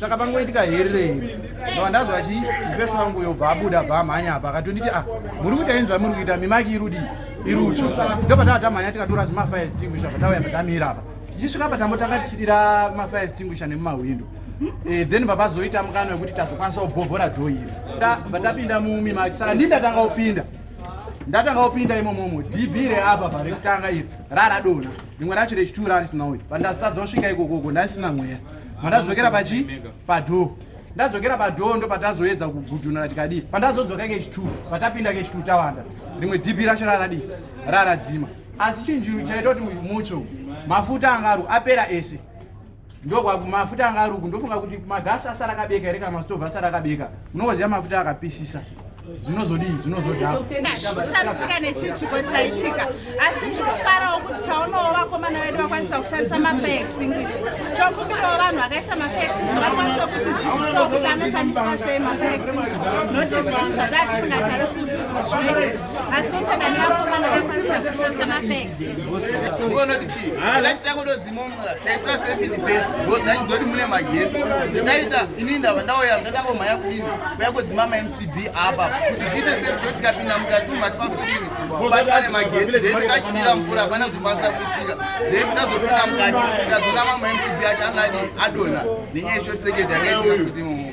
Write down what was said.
saka pangoitika herere iri ndoandazwa achi mfesi wangu yobva abuda bva amhanya apa akatonditi a ah, muri kuita ini zvamuri kuita mimaki irudi irutsva ndopataa tamhanya tikatora zvimafaestinguisha patauya patamira apa tichisvika apa tambotanga tichidira mafire extinguisher nemumahwindo eh, then baba zoita mukana wekuti tazokwanisa kubhovhora dho iri vatapinda mumima saka ndii ndatanga kupinda ndatanga kupinda imomomo db reapa pari kutanga iri raradona rimwe racho rechitura arisina uyu pandasitadza kusvika ikokoko ndaisina mweya mandadzokera pachi padhoo ndadzokera padhoo ndo patazoedza kugudhunana tikadii pandazodzoka kechitu patapinda kechitu tawanda rimwe db racho raradii raradzima asi chinhu chaita kuti uyu mucho mafuta anga aruku apera ese ndomafuta anga aruku ndofunga kuti magasi asara akabeka here kana mastovhu asara akabeka unoziva mafuta akapisisa zvinozodii zvinozodhashamsika nechiitiko chaitika asi tikufarawo kuti taonawo vakomana vedu vakwanisa kushandisa mafire extinguish tokumbirawo vanhu vakaisa mafire extinguish vakwanisa kuti dzidzisawo kuti anoshandiswa sei mafire extinguish noti zvii zvataa tisingatarisi kuti zvinoita ndozoti mune magetsi zvataita ini ndava ndauya ndatangomhaya kudini kuya kodzima mamcb apa kuti tiite sefi do tikapinda mukati umati kwasodini kubatwa nemagetsi de tikachidira mvura hapana zvokwanisa kuitika de ndazopinda mukati ndazona mamcb acho anga adonha nenyaya yeshort second yakaitika kuti mumu